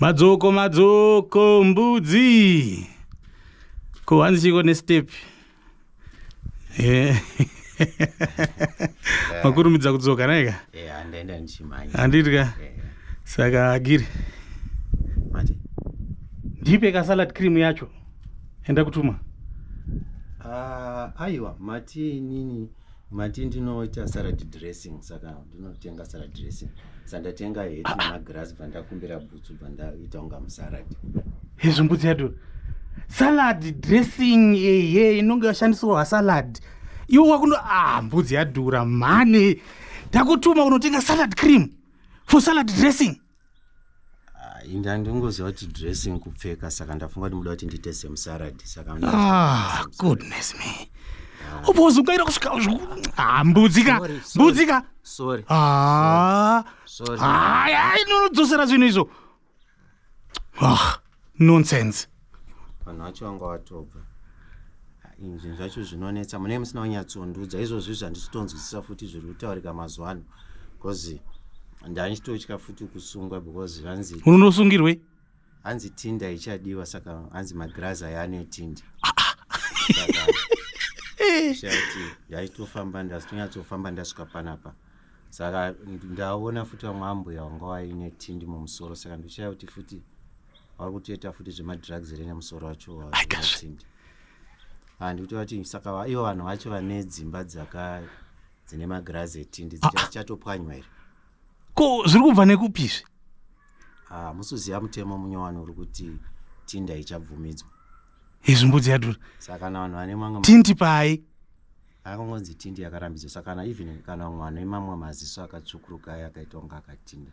Madzoko madzoko mbudzi. Ko hanzi chiko ne step. Eh. Makurumidza kudzoka naye ka? Eh, andaenda ndichimhanya. Handiti ka? Eh. Saka agiri. Mati. Ndipe ka salad cream yacho. Enda kutuma. Ah, uh, aiwa, mati nini? Mati ndinoita salad dressing saka ndinotenga salad dressing sandatenga heti ah, ah. nemagirasi bva ndakumbira bhutsu bva ndaita kunga musalad hezvo mbudzi yato salad dressing ehe inonge yashandisirwa vasalad iwo wakuno a ah, mbudzi yadhura mhani takutuma unotenga salad cream for salad dressing inga ndingoziva kuti dressing kupfeka saka ndafunga kuti muda kuti ndiite semusarad saka ah, goodness me ah. ubozungaira kusvika ah, mbudzika mbudzika haya inonodzosera zvinhu izvo ah. nonsense vanhu vacho vanga vatobva inzvin zvacho zvinonetsa munee musina wanyatsondiudza izvozvi zvandichitonzwisisa futi zviri kutaurika mazuva ano bcause ndandichitotya futi kusungwa because vanzi unonosungirwei hanzi tinda ichadiwa saka hanzi magrazi aya anetindi ah, ah. ndaichitofamba ndazitonyatsoofamba ndasvika panapa saka ndaona futi vamwe ambuya vanga vaine tindi mumusoro saka ndoshaya kuti futi vari kutoita futi zvemadrugs here nemusoro wacho waatindi handikuti vati saka ivo vanhu vacho vane dzimba dzaka dzine magirazi etindi ah, ah. dzichatopwanywa here ko zviri kubva nekupi izvi ah, musuziva mutemo munyowani uri kuti tinda ichabvumidzwa izvi mbudzi yadura saka kana vanhu vane manga tindi pai akangonzi tindi yakarambidzwa saka kana even kana vamwe vanhu imamwa maziso akatsvukuruka ayo akaita kunge akatinda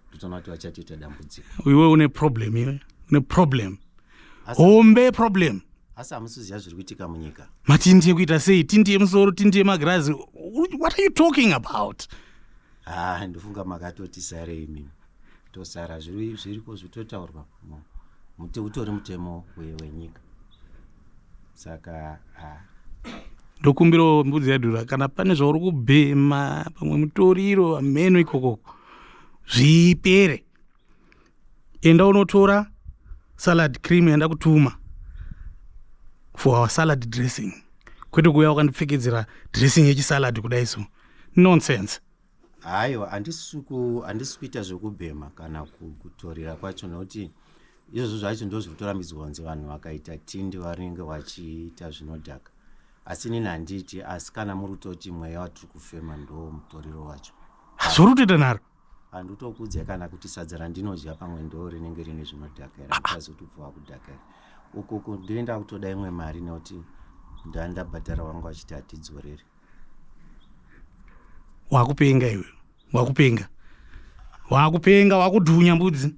ndotoona kuti vachatoita dambudziko iwe une problem iwe une problem hombe problem asi hamusiziva zviri kuitika munyika matindi ekuita sei tindi yemusoro tindi yemagirazi what are you talking about ha ah, ndofunga makatoti sare imimi tosara zviri zviriko zvitotaurwa mu- muti utori mutemo we- wenyika saka ah, ndokumbirawo mbudzi yadhura kana pane zvauri kubhema pamwe mutoriro hameno ikokoko zvipere enda unotora salad cream yanda kutuma for our salad dressing kwete kuuya wakandipfekedzera dressing yechisalad kudai so nonsense Haiwa, handisi kuita zvekubhema kana kutorira kwacho nokuti izvozvo zvacho ndo zviri kutorambidzwa kunzi vanhu vakaita tindi vanenge vachiita zvinodhaka asi inini handiiti asi kana muri kutoti mweya watiri kufema ndo mutoriro wacho asi uri kutoita nharo handitokuudzai kana kuti sadza randinodya pamwe ndo rinenge rine zvinodhaka here ndikazotobva wakudhaka here ukuku ndinenda kutoda imwe mari nekuti ndandabhadhara wangu achiti hatidzorere wakupenga iwe wakupenga wakupenga wakudhunya mbudzi